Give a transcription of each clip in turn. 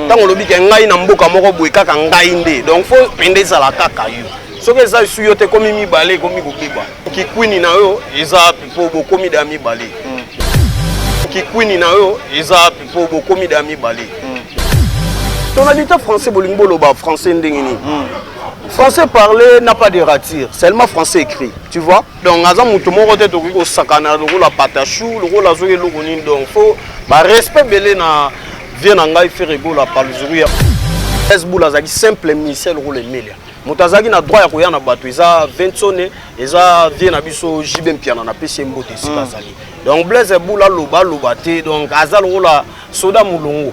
ntango olobi ke ngai na mboka moko boye kaka ngai nde donc fo pende ezala kaka yo soki eza esu yo te ekomi mibale ekomi kobeba kikwini na yo eza mpo bokomi da mibale hmm. kikwini na yo eza mpo bokomi da mibale hmm. ton habitant français bolingi boloba français ndenge nini hmm. français parler n'a pas de rature seulement français écrit tu vois donc aza moto moko te tokoki kosakana lokola patachou lokola azoki eloko nini donc fo barespect ebele na vie na ngai fere gola palzuru ya esbul azalaki simple musicien lokola emelia moto azalaki na droit ya koya na bato eza vinsone eza vie na biso jb mpiana napesi ye mbote esika mm. azali donc blaise ebul aloba aloba te donc aza lokola soda molongo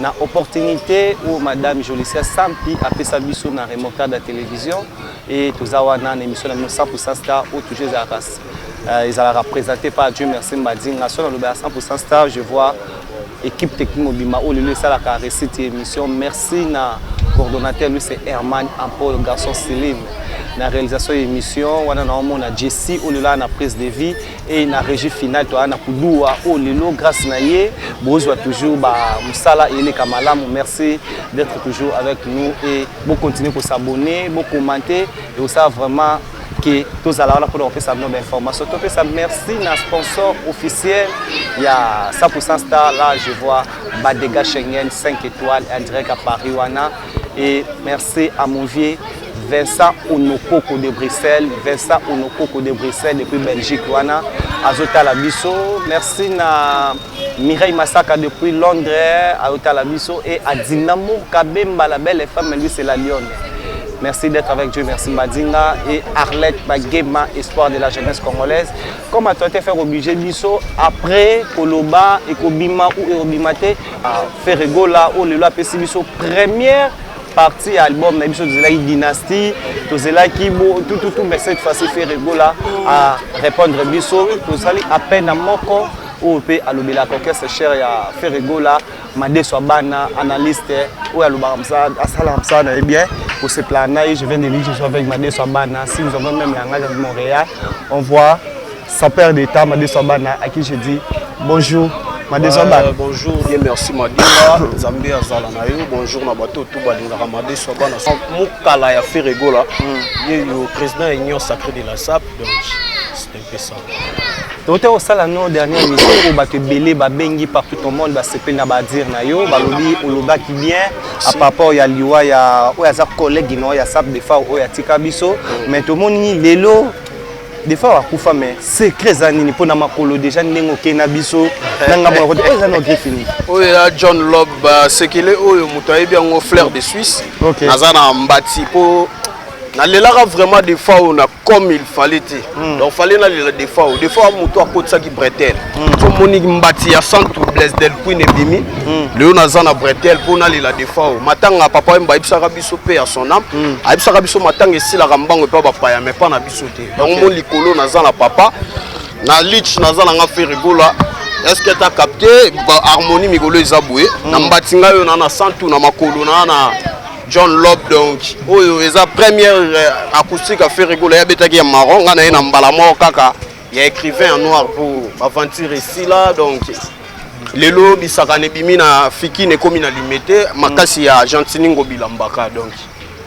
na opportunité oyo madame Jolicia Sampi apesa biso na remontada ya télévision et toza wana na émission na bino 100% star oyo toujours ezalaka euh, ezalaka présenté par Dieu merci Mbadinga so naloba ya 100% star je vois équipe technique mobimba oyo lelo esalaka récite ya émission merci na coordonnateur lui c'est Herman Ampol garçon Céline na réalisation ya émission wana naomona Jessie oyo lelo na prise de vie et na régie finale toa na kuduwa oyo oh, lelo grâce na ye bozwa toujours bamosala eleka malamu merci d'être toujours avec nous et bocontinue kosabonne bocommente ekosala vraiment ke tozala wana mpona kopesa bino bainformation topesa merci na sponsor officiel ya 100% star là je vois badega schengen 5 étoiles indirect à paris wana et merci à mon vieux Vincent Onokoko de Bruxelles, Vincent Onokoko de Bruxelles depuis Belgique wana azotala biso. Merci na Mireille Masaka depuis Londres azotala biso et Adina Kabemba la belle femme lui c'est la lionne. Merci d'être avec Dieu, merci Madinga et Arlette Bagema, espoir de la jeunesse congolaise. Comme à toi, tu faire obligé biso après Koloba et Kobima ou Erobimate, Ferregola ou Lelo Pessibiso, première partie ya album na biso tozelaki dynastie tozelaki bo tout tout tout mais cette fois-ci Ferre Gola a répondre biso tozali à peine na moko oyo mpe alobelaka orchestre cher ya Ferre Gola madeso ya bana analyste oyo alobaka mosala asalaka mosala na ye bien koseplana na ye je viens de lui je suis avec madeso ya bana si nous avons même langage de Montréal on voit Sans perdre de temps, Madé Sabana, à qui je dis bonjour. Madé Sabana. Euh, bonjour et merci Madé. Zambé Azala na yo. Bonjour na bateau tout balingaka Madé Sabana. Mukala ya Ferregola. Hmm. Ye yo président Union Sacrée de la SAP. Donc c'est un peu ça. tote osala no dernière émission oyo bato ebele babengi partout au monde basepeli na badire na yo balobi olobaki bien a paraport ya liwa ya oyo aza collègue no ya sap defa oyo atika biso mais tomoni lelo defa akufa mais secret eza nini mpo na makolo deja ndenge okei na biso na ngambo na kote oyo eza na ogre fini oyo ya john lob euh, sekele oyo moto ayebi yango flair de suisse okay. naza na mbati mpo nalelaka vraiment defa oyo na comme il fallait te mm. donc fallait nalela defa oyo defa oyo moto akotisaki bretele hmm. so moni mbati ya santu blaise del queen ebimi mm. lelo naza na bretele mpo nalela defa oyo matanga papa yemba ayebisaka biso mpe ya son ame mm. ayebisaka biso matanga esilaka mbango epa bapaya me mpa na biso biso te yango mo likolo naza na papa na lich naza na nga ferigola eske ata capte harmonie mikolo eza boye hmm. na mbati ngai oyo na na santu na makolo na na john lob donc oyo eza première euh, acoustique ya ferigola ye abetaki ya maron ngai na ye na mbala moko kaka ya écrivain ya noir pour aventure esila donc lelo bisakana ebimi na fikine ekomi na limete makasi ya gentini ngobilambaka donc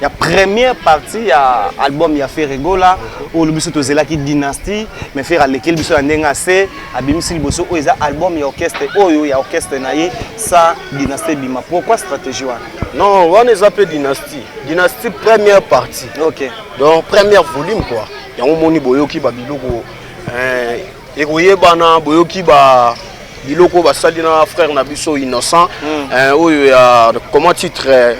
ya première partie ya album ya Ferre Gola oyo biso tozelaki dynastie mais Ferre alekeli biso ya ndenge ase abimisi liboso oyo eza album ya orchestre oyo ya orchestre na ye sa dynastie bima pourquoi stratégie wana non wana eza mpe dynastie dynastie première partie ok donc première volume quoi yango moni boyoki babiloko eh, ekoyebana boyoki ba biloko basali na frère na biso innocent mm. eh, oyo ya comment titre eh,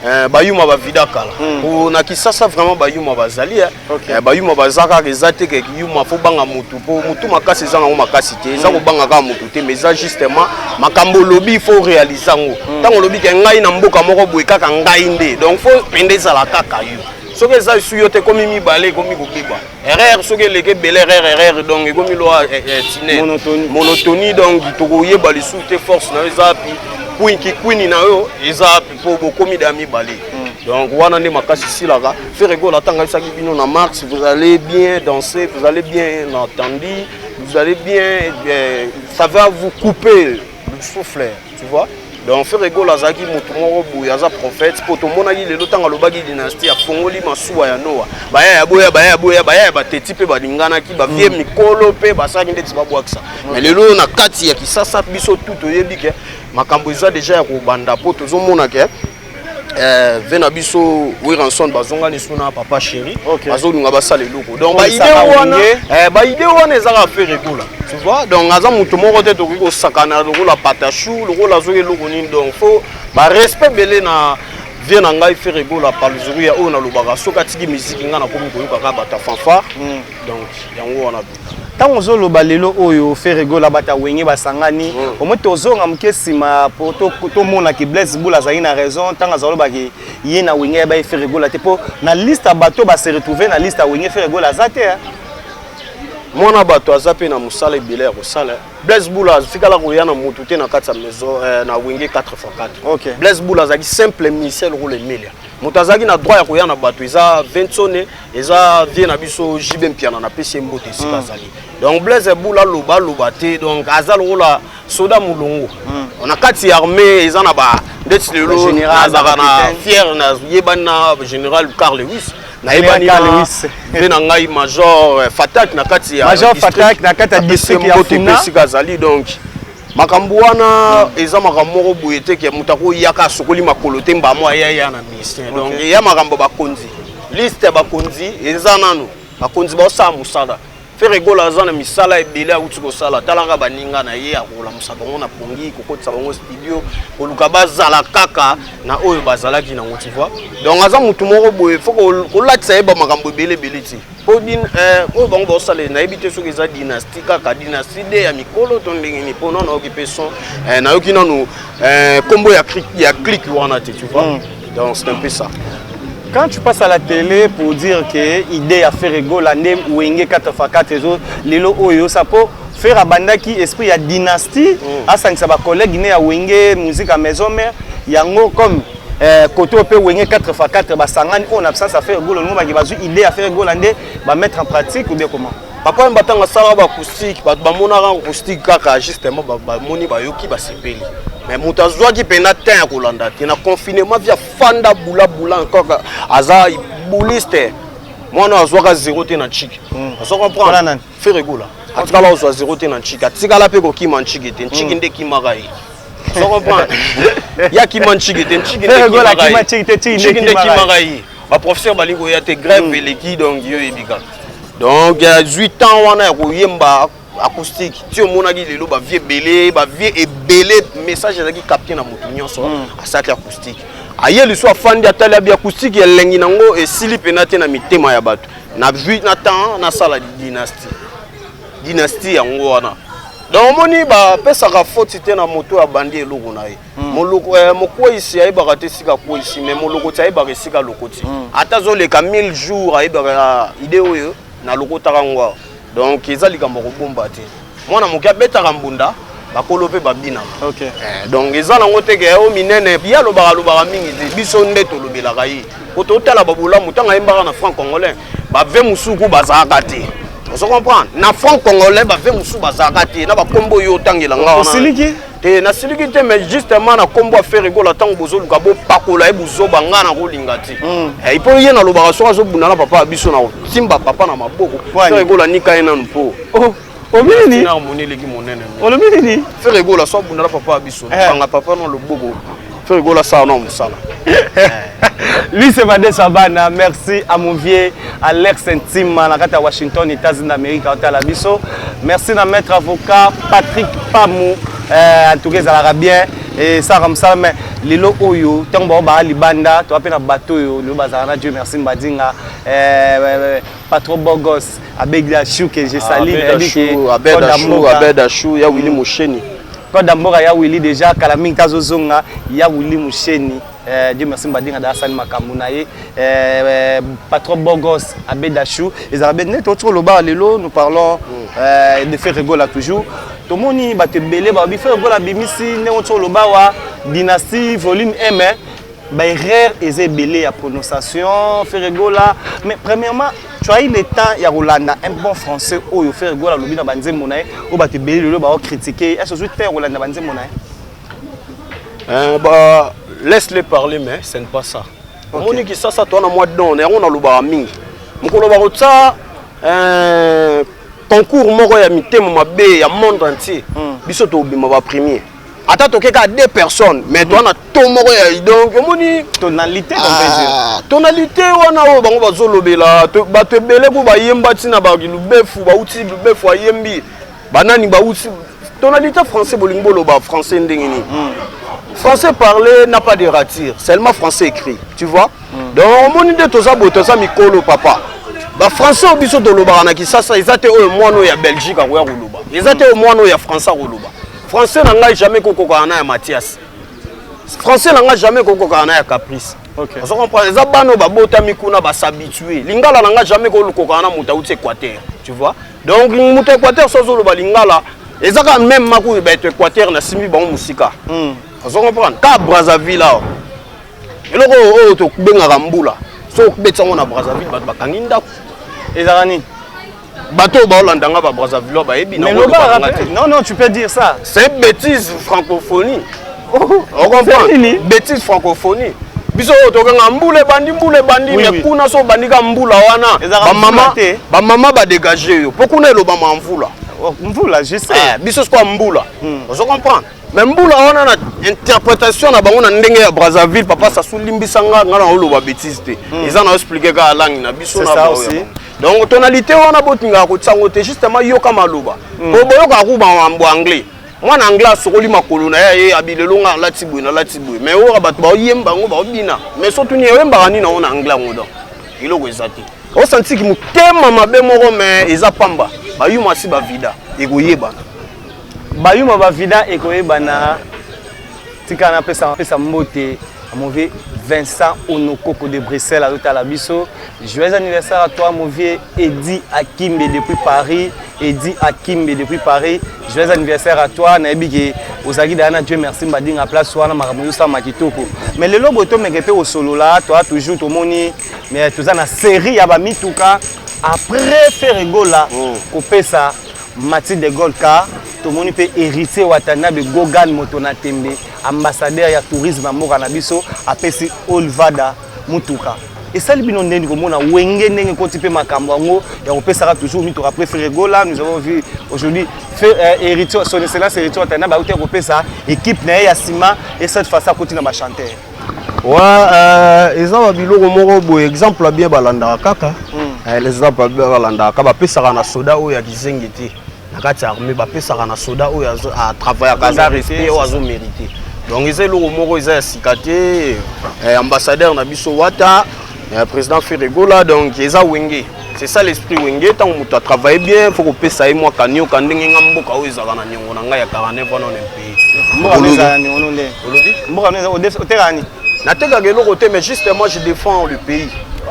Eh, bayuma bavida kala mm. po na kisasa vraiment bayuma bazali eh. okay. eh, bayuma baza kaka eza te ke yuma fo banga motu po motu makasi eza nango makasi te eza mm. kobanga kaka motu te mais eza justement makambo olobi fo réalise yango mm. ntango olobi ke ngai na mboka moko boye kaka ngai nde donc fo pende ezala kaka yo soki eza esu yo te ekomi mibale ekomi kobiba erreur soki eleki ebele erreur erreur donc ekomi lwa eh, eh, tine monotonie donc tokoyeba lisusu te force na yo eza api kwinki kwini na yo eza api mpo bokomi da mibale hmm. donc wana nde makasi esilaka feregola ntango ayebisaki bino na mars vous allez bien danser vous allez bien entendu vous allez bien eh, ça va vous couper souffle tu vois donc ferre gola azalaki motu moko boye aza prophète mpo tomonaki lelo ntango alobaki dynastie afongoli masuwa ya noa baya ya boya baya ya boya baya ya bateti mpe balinganaki bavie mm. mikolo mpe basalaki ndeti babwakisa mais lelo oyo na kati ya kisasa biso tu toyebi ke makambo eza deja ya kobanda mpo tozomona ke eh, ve na biso wiranson bazonga lisu na papa chéri okay. bazolunga basala eloko donc baide wana eh, baide wana ezaka affaire ekola tu vois donc aza moto moko te tokoki kosakana lokola patachou lokola azoki eloko nini donc fo barespect ebele na vie na ngai fere egola paluzuru ya oyo nalobaka soki atiki miziki ngai nakomi koyoka kaka bata fanfare hmm. donc yango wana ntango ozoloba lelo oyo ferre gola bata wenge basangani mm. omoi tozonga moke nsima po tomona ke blaise bula azali na raison ntango azalobaki ye na wenge yabaye ferre gola te mpo na liste ya bato base retrouve na liste ya wenge ferre gola aza te eh. mwana bato aza mpe na mosala ebele ya kosala eh. blaise bula atikala koya na motu te na kati ya maison eh, na wenge 4 x 4 okay. blaise bula azalaki simple musicien lokola emelia moto azalaki na droit ya koya na bato eza vinsone eza vie na biso jibe mpiana na pesi mbote esika mm. azali donc blaise bula aloba aloba te donc aza lokola soda molongo mm. na kati ya armée eza na ba ndeti lelo nazaka na fiere nayebani na général carl lewis nayebani mpe na ngai major eh, fatak na kati ya major fatak na kati ya district ya funa esika azali donc makambo wana eza makambo moko boye te ke moto akoyaka asokoli makolo te mbamo ayaya na ministère donc okay. eya makambo bakonzi liste ya bakonzi eza nano bakonzi baosala mosala fere gola aza na misala ebele awuti kosala talaka baninga na ye akolamusa bango na pongi kokotisa bango studio koluka bazala kaka na oyo bazalaki nango tivoi donc aza motu moko boye fo kolatisa ye bamakambo ebele ebele ti po din eh, oyo bango baosalela nayebi te soki eza dynastie kaka dynastie de ya mikolo to ndenge nini mpo nano nayoki mpe son eh, nayoki nanu eh, kombo ya, ya clique wana te tu vois mm. donc c'est un peu ça quand tu passes à la télé pour dire que idée ya ferregola nde wenge 4 fa 4 ezo lelo oyo osa mpo ferre abandaki esprit ya dynastie mm. asangisa bacollègue ne ya wenge musique ya maison mère yango comme Eh, côté au Wenge 4 x 4 basangani on absence à faire goal on ba bazu idée à faire goal ande ba mettre en pratique ou bien comment papa on batanga sala ba acoustique ba ba mona ran acoustique kaka justement ba ba moni ba yoki ba sepeli mais moto azwaki mpena temps ya kolanda te na confinement via fanda bula bula encore aza bouliste mwana azwaka zero te na chiki hmm. azo comprendre Ferre Gola atikala kozwa zero te na ntshiki atikala mpe kokima ntshiki te ntshiki mm. nde ekimaka ye ozo comprendre ye akima ntshiki te ntshiki nde ekimaka ye baprofesseur balingi koya te grève mm. eleki donc yo oyebi kaka donc azwi temps wana ya koyemba acoustique ti omonaki lelo bavie ebele bavie ebele message ezalaki capte na motu nyonso mm. asalaki acoustique aye lisu afandi atali abi acoustique elengi nango esili mpena te na mitema ya bato na vie na temps nasala dynastie dynastie yango wana donc omoni bapesaka foti te na moto oyo abandi eloko na ye hmm. eh, mokweisi ayebaka te esika akweisi mais molokoti ayebaka esika alokoti hmm. ata azoleka 1000 jours ayebaka ah, ide oyo nalokotaka yango awa donc eza likambo ya kobomba te mwana moke abetaka mbunda bakolo mpe babinaka okay. eh, donc eza nango te ke o minene ye alobaka alobaka mingi te biso nde tolobelaka ye po totala babolamu ntango ayembaka na franc congolais bave mosusu ku bazalaka te ozo comprendre na franc congolais bave mosusu bazalaka te na bakombo oyo otangela nga wana te nasiliki te mais justement na kombo ya fere gola ntango bozoluka bopakola ye bozoba nga na kolinga te hmm. eh, ipo ye nalobaka soki azobunda na papa ya biso na kosimba papa na maboko fere gola nika ye nanu mpo oh, omini harmoni eleki monene olobi nini fere gola so abunda na papa ya biso eh. kanga papa na loboko Feu Rigola ça non musala. Lui c'est Vade Savana, merci à mon vieux Alex Ntima na kata Washington, États-Unis d'Amérique, à la biso. Merci na maître avocat Patrick Pamou, euh, en tout cas ezalaka bien et ça comme ça mais lelo oyo ntango bao baa libanda toa mpe na bato oyo lelo bazala na dieu merci mbadinga euh, euh, euh, pas trop beau gosse abed la chou que je salue ah, nayebi ke abed la chou abed la chou ya Willy mm. Musheni code ya mboka ya Willy déjà kala mingi tazo zonga ya Willy Musheni eh, Dieu merci mbadinga da asali makambo na ye eh, eh, pas trop beau gosse abed la chou ezala bed net otiko loba lelo nous parlons mm. de faire rigola toujours tomoni bato ebele balobi faire rigola bimisi ndenge otiko loba wa dynastie volume 1 Ba erreur eza ebele ya prononciation Ferregola mais premièrement tu as eu le temps ya kolanda un bon français oyo Ferregola alobi na banzembo na ye oyo bato ebele lelo bao critiquer est-ce ozwi temps ya kolanda banzembo na ye euh, bah, laisse les parler mais ce n'est pas ça omoni okay. kisasa toa na mwa don yango nalobaka mingi mokolo bakotya euh, concours moko ya mitema mabe ya monde entier hmm. biso tobima bapremier ata toke kaka deux personnes mais mhm. toa na to moko ya donc omoni tonalité ah, tonalité wana oyo bango bazolobela bato ebele mpo bayemba ntina balubefu bauti lubefu ayembi banani bauti tonalité français bolingi boloba français ndenge nini mhm. français parlé n'a pas de rature seulement français écrit tu vois mhm. donc omoni nde toza boye toza mikolo papa bafrançais oyo biso tolobaka na kisasa eza te oyo mwana oyo ya belgique akoya koloba eza te oyo mwana oyo ya français akoloba français na ngai jamais kokokana na ya mathias français na ngai jamais kokokana na ya caprice okay. ozo comprendre eza bana oyo babotami kuna basabitue lingala na ngai jamais kokokana na moto auti équateur tu vois donc moto équateur so azoloba lingala eza kaka meme makoyo bato équateur nasimbi bango mosika hmm. ozo comprendre ka brazzaville awa eloko oyo tobengaka mbula so okobetisa yango na brazzaville bato bakangi ndako ezalaka nini bato oyo baolanda nga babrazzavillois bayebi non non tu peux dire ça c'est bêtise francophonie oh, okomprendre bêtise francophonie biso oyo tokanga mbula ebandi mbula ebandi oui, me oui. kuna so obandi ka mbula wana bamama badégage yo mpo kuna elobama ya mvula oh, mvula je sais eh, biso sikoya mbula hmm. ozo comprendre me mbula wana na interprétation na bango na ndenge ya brazzaville papa sasu limbisa nga nga na oloba bétise te hmm. eza na explike kaka langi na biso na donc tonalité wana botingaka kotisa yango te justement yoka maloba mm. po boyokaka ku mambo anglais mwana anglais asokoli makolo na ye ye abilelo nga alati boye nalati boye mais oyoka bato baoyemba yango baobina mais so tuni oyembaka nini yango na anglais yango donc eloko eza te osantiki motema mabe moko mais eza pamba bayuma asi bavida ekoyebana bayuma bavida ekoyebana tika napesa pesa mbote mauvais vincent onokoko de bruxelles azotala biso joyeux anniversaire à toi mauvais edi akimbe depuis paris edi akimbe depuis paris joyeux anniversaire à toi nayebi ke ozalaki daya na dieu merci mbadinga place wana makambo ezosalama kitoko mais lelo boye tomeke mpe kosolola toa toujours tomoni mais toza na série ya bamituka après ferre gola mm. kopesa Mathy de Gaulle car tomoni mpe Heritier Watanabe Gogan moto na tembe ambassadeur ya tourisme ya mboka na biso apesi Olvada motuka esali bino ndeni komona wenge ndenge ekoti mpe makambo yango ya kopesaka toujours mituka préféré gola nous avons vu aujourd'hui euh, héritier son excellence héritier watanabe auti ya kopesa équipe na ye ya nsima et cette fois akoti na bachanteur wa euh, eza ba biloko moko boye exemple ya bien balandaka kaka hmm. eh, eza balandaka kaka bapesaka na soda oyo ya kizengi te na kati ya armée bapesaka na soda oyo atravaillaka ah, aza respect oyo azo mérite donc eza eloko moko eza ya sika te eh, ambassadeur na biso wata eh, président ferregola donc eza wenge C'est ça l'esprit wenge ntango moto atravaille bien fo kopesa ye mwa kanioka ndenge nga mboka oyo ezalaka na niongo na ngai ya 49 wana on pays mboka oyo ezalaka na niongo no nde olobi mboka oyo ezalaka otekaka nini natekaka eloko te mais juste moi je défends le pays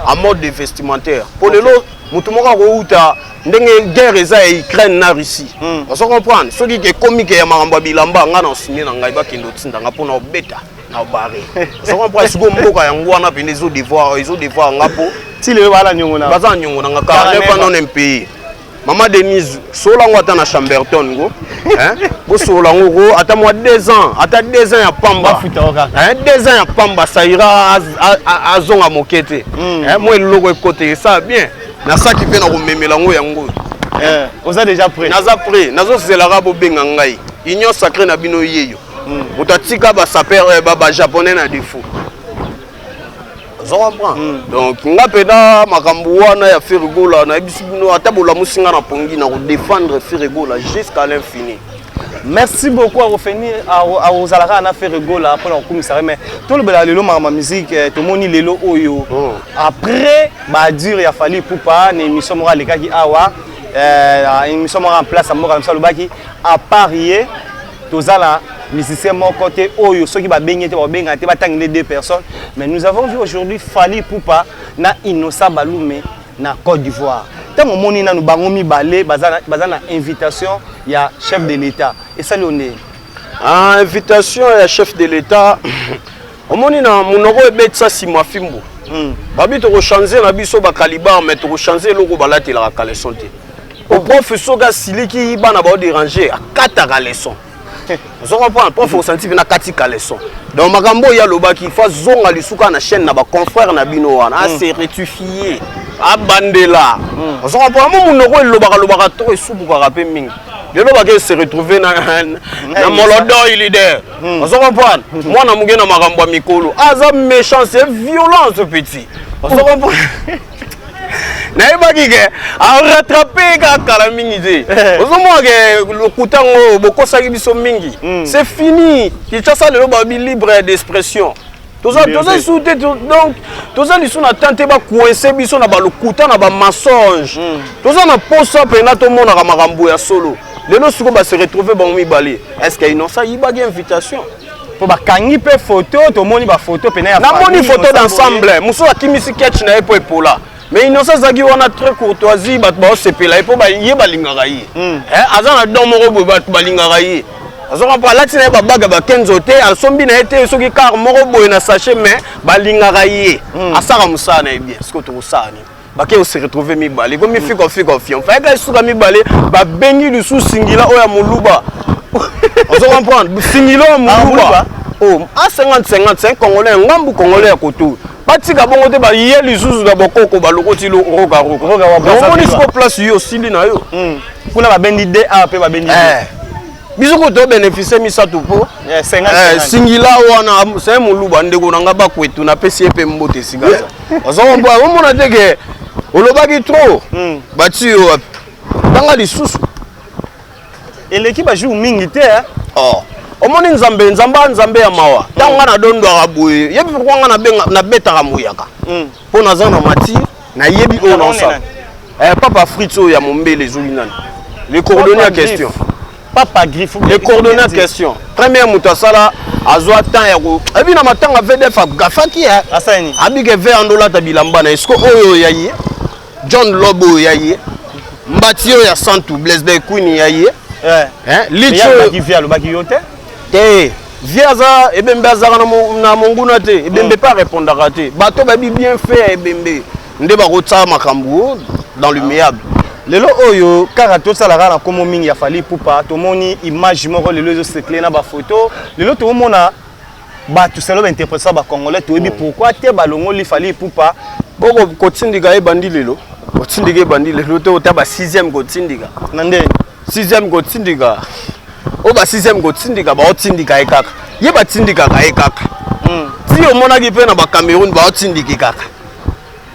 en mode de vestimentaire mpo lelo moto moko akouta ndenge guerre eza ya ukraine na russie hmm. ozo comprendre soki ekomi ke ya makambo ya bilamba ngai na osumie na ngai bakende otinda ngai mpo na obeta na bare ça comprend siko mboka yango wana pende ezo devoir ezo devoir nga po ti lelo bala nyongo na baza nyongo na nga 49 ans non pays mama denise solola yango ata na chamberton ngo bosolola yango ko ata mwa 2 ans ata 2 ans ya pamba 2 ans ya pamba saira azonga moke te hmm. mwa eloko ekote esa bien nasaki mpe na komemela yango yango eh, oza déjà prêt naza prêt nazozelaka bobenga ngai union sacré na bino yeyo hmm. moto atika basaper eh, bajaponais na defaut ozo comprendre hmm. donc nga mpenza makambo wana ya firigola nayebisi bino ata bolamusi nga na pongi na kodefendre firigola jusqu'à l'infini merci beaucoup akofeni akozala kaka na fere gola mpona kokumisa ye mais tolobela lelo makambo ya musike eh, tomoni lelo oyo oh. après badure ya fali pupa na émission moko alekaki awa eh, émission moko en place ya mboka na biso alobaki apart ye toza na musicien moko te oyo soki babengi te bakobenga te batangi nde deux personnes mais nous avons vu aujourd'hui fali pupa na innocent balume na côte d'ivoire ntango omoni nanu bango mibale baza na invitation ya chef de l'état esali yo ndenge ah, invitation ya chef de l'état omoni na monoko ebetisa sima fimbu hmm. babi tokochange na biso bacalibar mais tokochange eloko balatelaka caleson te oprofe soki asiliki bana baoderange akataka leson ozo comprendre prof osanti mpe nakati caleson donc makambo oyo alobaki fo azonga lisuka na chaîne na baconfrère na bino wana hmm. ase retifie abandela hmm. ozo comprendre mo monoko elobaka lobaka to esubukaka mpe mingi lelo bake se retrouve na, na, na molodoi leader hmm. ozo comprendre hmm. mwana moke na makambo ya mikolo aza méchant c'est violence petit ozo oh. comprendre nayebaki ke arattrape kaka kala mingi te eh. ozomona ke lokuta yango bokosaki biso mingi hmm. c'est fini kinshasa lelo babi libre d'expression toza toza lisusu te donc toza lisusu na temps te bakoinse biso na balokuta na bamensonge hmm. toza na posa mpena tomonaka makambo ya solo lelo sikoyo base retrouve bango mibale est ce que innocent ayibaki invitation mpo bakangi mpe foto tomoni bafoto mpena ya namoni foto d'ensemble mosusu akimisi ketch na ye mpo epola mais innocent azalaki wana très courtoisie bato baosepela ye mpo ye balingaka ye hmm. eh, aza na don moko boye bato balingaka ye azonga mpo alati na ye babaga bakenzo te asombi na ye te soki kar moko boye na sache mais balingaka ye hmm. asaka mosala na ye bien sikoyo tokosala nini bake ose retrouve mibale ekomi hmm. fika fika fion fayaka esuka mibale babengi lisusu singila oyo ya moluba ozo comprendre singila oyo ya ah, moluba oh, a 50 50 congolais ngambu congolais ya kotu batika bongo te baye lisusu na bokoko balokoti roka rokaomoni siko place yo osili na yo hmm. kuna babendi da mpe babendi eh. biso kutu obénéficie misato mpo eh, eh, singila wana se moluba ndeko na ngai bakwetu napesi ye mpe mbote esika omona te ke olobaki trop hmm. bati yo wapi tanga lisusu eleki ba jour mingi te eh. oh. omoni nzambe nzambe nzambe ya mawa ntango nga nadondwaka boye yebi pourkoi nga nabetaka mbuyaka hmm. mpo naza na matire nayebi oyo naosala eh, papa fritz oyo ya mombele ezoli nani le coordonné ya question papa griffe le coordonné ya question première moto asala azwa temps ya ko ebi na matanga vdf agafaki eh. abike ve andolata bilamba na eske oyo ya ye John Lobo oyo ya ye. Mbati oyo ya Santu Blaise Bell Queen ya ye. Eh. Hein? Licho. Ya ki via lobaki yo te. Te. Via za ebembe azaka na monguna te. Ebembe mm. pas répondaka te. Bato babi bien fait ya ebembe. Nde bakotsa makambo dans le meable. Ah. lelo oyo kaka tosalaka na komo mingi ya fali pupa tomoni image moko lelo ezosekle na bafoto lelo tokomona bato selo ba interpretisa ba congolais toyebi mm. pourquoi te balongoli fali ipupa boko kotindika ebandi lelo kotindika ebandi lelo te ota ba sixième kotindika na nde sixième kotindika oyo ba sixième kotindika baotindika ye kaka ye batindikaka ye kaka mm. ti omonaki mpe na ba cameroun baotindiki kaka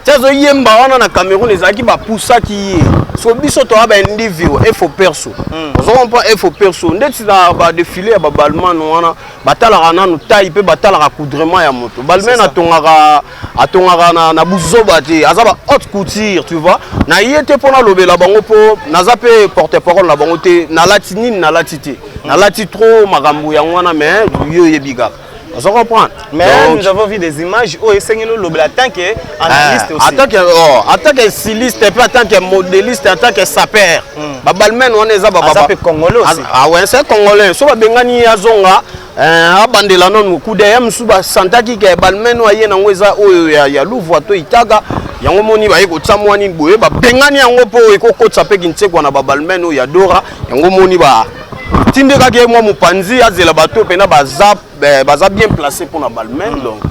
ti azoyemba wana na cameroun ezalaki bapusaki ye so biso toya baindividu efo perso hmm. ozokompa efo perso ndeti na badefile ya babalmane wana batalaka nanu tai mpe batalaka coudrement ya moto balmane atongaka atongaka na, na buzoba te aza ba haute couture tu vois na ye te mpo nalobela bango mpo naza mpe porte parole na bango te nalati nini nalati te nalati trop makambo yango wana mais yo oyebi kaka ozo comprendre mais Donc, nous avons vu des images oyo esengeli olobela tant que analyste aussi attaque oh, attaque styliste mpe attaque modéliste attaque saper mm. babalmen wana eza aza mpe congolais aussi awe ah, se congolais so babengani ye azonga eh, abandela nanu kudaya mosusu basantaki ke balmen oyo aye nango eza oyo ya, ya luvua to itaga yango moni baye kotya mwa nini boye babengani yango mpo ekokotisa mpe kinsekwa na babalmen oyo ya dora yango moni ba tindekaki ye mwa mopanzi azela bato oyo mpena baza eh, baza bien placé mpo na balmain donc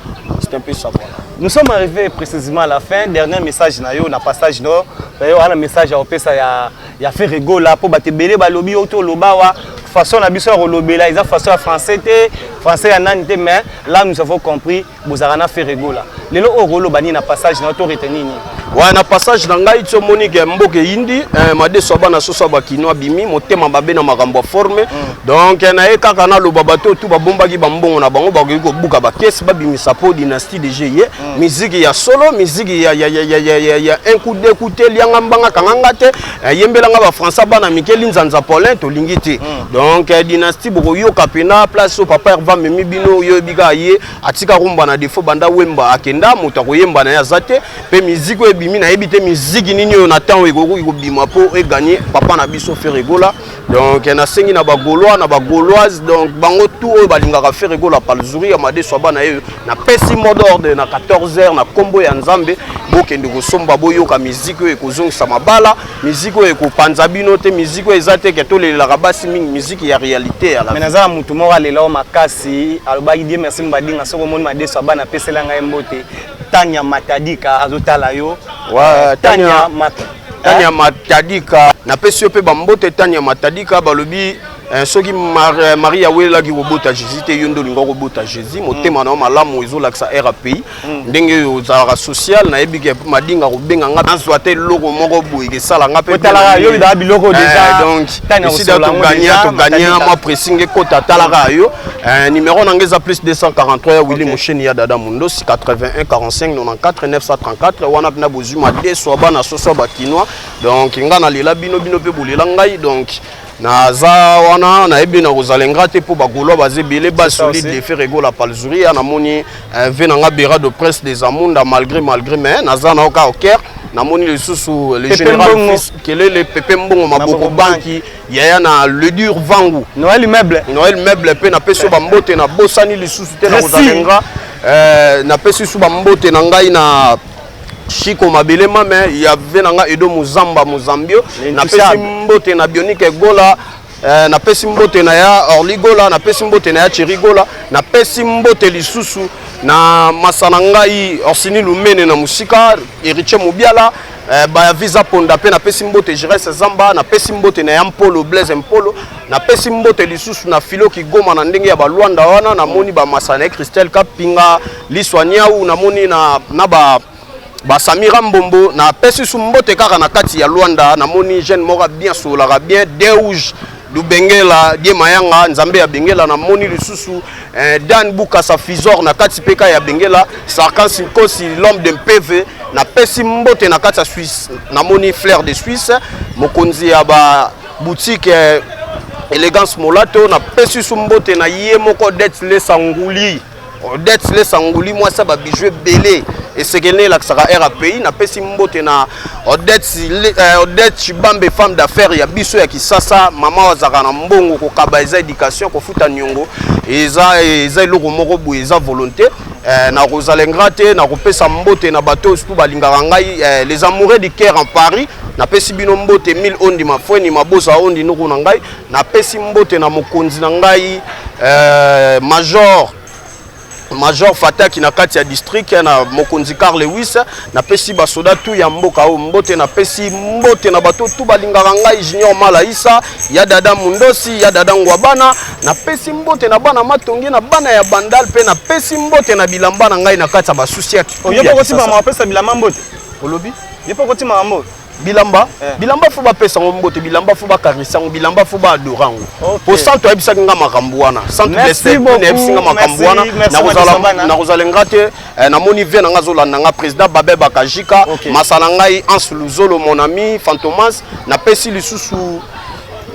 c'est un peu ça voilà Nous sommes arrivés précisément à la fin. Dernier message na yo na passage no. Yo ana message ya opesa ya ya Ferre Gola po batebele balobi yo to lobawa façon na biso ya kolobela eza façon ya français te, français ya nani te mais là nous avons compris bozalaka na ferre gola lelo oyo okoloba nini na passage na yo to retenir nini wa na passage na ngai ti omoni ke mboka eyindi eh, madeso ya bana soso ya bakino abimi motema mabe na makambo ya forme mm. donc eh, na ye kaka naloba bato oyo tu babombaki bambongo na bango bakoki kobuka bakesi babimisa mpo dynastie de jeu ye mm. miziki ya solo miziki ya, ya, ya, ya, ya, ya, ya un coup de coup te lianga mbanga kanganga te Eh, yembela nga bafrançais bana mike linzanza paulin tolingi te hmm. donc eh, dynastie bokoyoka mpena place oyo papa herva amemi bino oyebi kaka ye atika rumba na defo banda wemba akenda moto akoyemba na ye aza te mpe miziki oyo ebimi nayebi te miziki nini oyo na ntango ekoki kobima mpo eganye papa na biso feregola donc nasengi na bagolois na bagoloise donc bango tout oyo balingaka fere gola palzuri ya madeso ya bana yeyo napesi mode ordre na 14 heures na nkombo ya nzambe bokende kosomba boyoka miziki oyo ekozongisa mabala miziki oyo ekopanza bino te miziki oyo eza te ke tolelelaka basi mingi miziki ya réalité ya me naza na motu moko alela o makasi alobaki die merci mbadinga soki omoni madeso ya bana apesela ngai mbote tania matadika azotala yo ouais, tania, tania mat Tania eh? Matadika napesi yo mpe bambote Tania Matadika balobi eh, soki Mar eh, Maria awelelaki kobota Jésus te yo nde olinga kobota Jésus mm. motema mm. na yo malamu ezolakisa RAPI mm. ndenge oyo ozalaka social nayebi ke madinga kobenga nga nazwa te eloko moko boye kesala nga mpe otalaka yo bidaka biloko eh, déjà donc esida togagna togagna mwa pressing ekota atalaka mm. yo eh, numéro na nga eza plus 243 ya Willy okay. Mosheni ya Dada Mundosi 81 45 94 934 wana mpe na nazwi madesu ya bana soso ya bakinois donc ngai nalela bino bino mpe bolela ngai donc naza wana nayebi nakozala ingra te mpo bagolois baza ebele ba solide defe regola palzuria namoni eh, ve na ngai bera de presse des amunda malgré malgré mais naza na oka oker namoni lisusu le général fils kelele pepe mbongo maboko banki yaya na le dur vangu noel meuble noel meuble mpe napesi yo bambote nabosani lisusu te nakozala ingra eh, napesi lisusu bambote na ngai na Chico Mabelema me ya vie na nga Edo Muzamba Muzambio napesi mbote na Bionique Gola eh, napesi mbote na ya Orly Gola napesi mbote na ya Thierry Gola napesi mbote lisusu na masa na ngai Orsini Lumene na mosika Heritier Mubiala eh, baya visa ponda mpe napesi mbote Gires Zamba napesi mbote na ya Mpolo Blaise Mpolo napesi mbote lisusu na Filo Kigoma na ndenge ya balwanda wana namoni bamasana ya Christelle Kapinga Liswa Niawu na moni na, na ba ba Samira Mbombo na pesi su mbote kaka na kati ya Luanda na moni jeune moko bien solaka bien Deuge Lubengela die mayanga nzambe ya Bengela na moni lisusu eh, Dan Bukasa Fizor na kati peka ya Bengela Sarkan Sinkosi l'homme de Mpeve na pesi mbote na kati ya Suisse na moni Flair de Suisse mokonzi ya ba boutique eh, Elegance Molato na pesi su mbote na ye moko Det Lesa Nguli Odette Silesa Nguli mwasi ya babiju ebele esekeli na elakisaka air ya pays napesi mbote na Odette eh, Chibambe femme d'affaires ya biso ya Kisasa mama azalaka na mbongo kokaba eza education kofuta niongo eza eza eloko moko boye eza volonté eh, nakozala ingra te nakopesa mbote na bato oyo surtout balingaka ngai eh, les amoureux du caire en paris napesi bino mbote 1000 ondi mafweni mabosa ondi noko na ngai napesi mbote na mokonzi na ngai eh, major major fataki na kati ya district na mokonzi car lewis napesi basoda tu ya mboka oyo mbote napesi mbote na bato tu balingaka ngai junior malaisa ya dada mundosi ya dada ngwabana napesi mbote na bana matonge na bana ya bandal mpe napesi mbote na bilamba na ngai na kati ya basusi ya oyo mpe okosimama apesa bilamba mbote olobi ye mpe okotima yango bilamba eh. bilamba fo bapesa yango mbote bilamba fo bakarisa yango bilamba fo baadora yango okay. po santu ayebisaki nga makambo wana santu ayebisi nga makambo wana nakozala nga te eh, namoni vie na nga azolanda nga président babe bakajika okay. masa na ngai ans luzolo mon ami fantomas napesi lisusu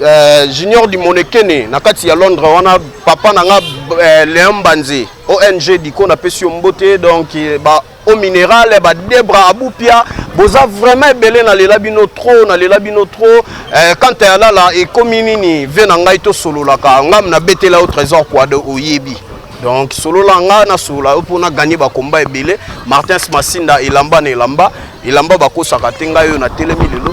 eh, junior dimonekene na kati ya londres wana papa na nga eh, leon banze ong diko napesi yo mbote donc eh, ba au mineral ba debra abupia boza vraiment ebele nalela bino trop nalela bino trop eh, kanta ya lala ekomi nini vie na ngai tosololaka ngam nabetela yo trésor quado oyebi donc solola nga nasolola yo mpo naganye bakomba ebele martins masinda elamba na elamba elamba bakosaka te ngai oyo natelemi lelo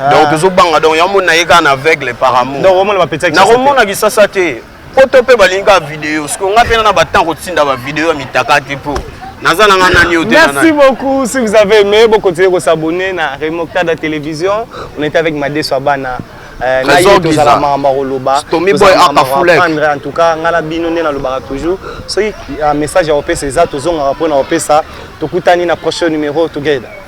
Ah. donc tozobanga donc yango mona ye kaka na aveugle par amour nakomona kisasa te poto mpe balingi kaka video siko ngai mpena na batemp kotinda bavideo ya mitaka te mpo naza na ngai nani merci beaucoup si vous avez aimé bokontinue kosabonne na remoctada télévision on était avec madeso abana euh, naye tozala makambo akoloba tozalaprendre en tout cas ngai na bino nde nalobaka toujours soki euh, message ya kopesa eza tozongaka mpo na kopesa tokutani na prochain numéro together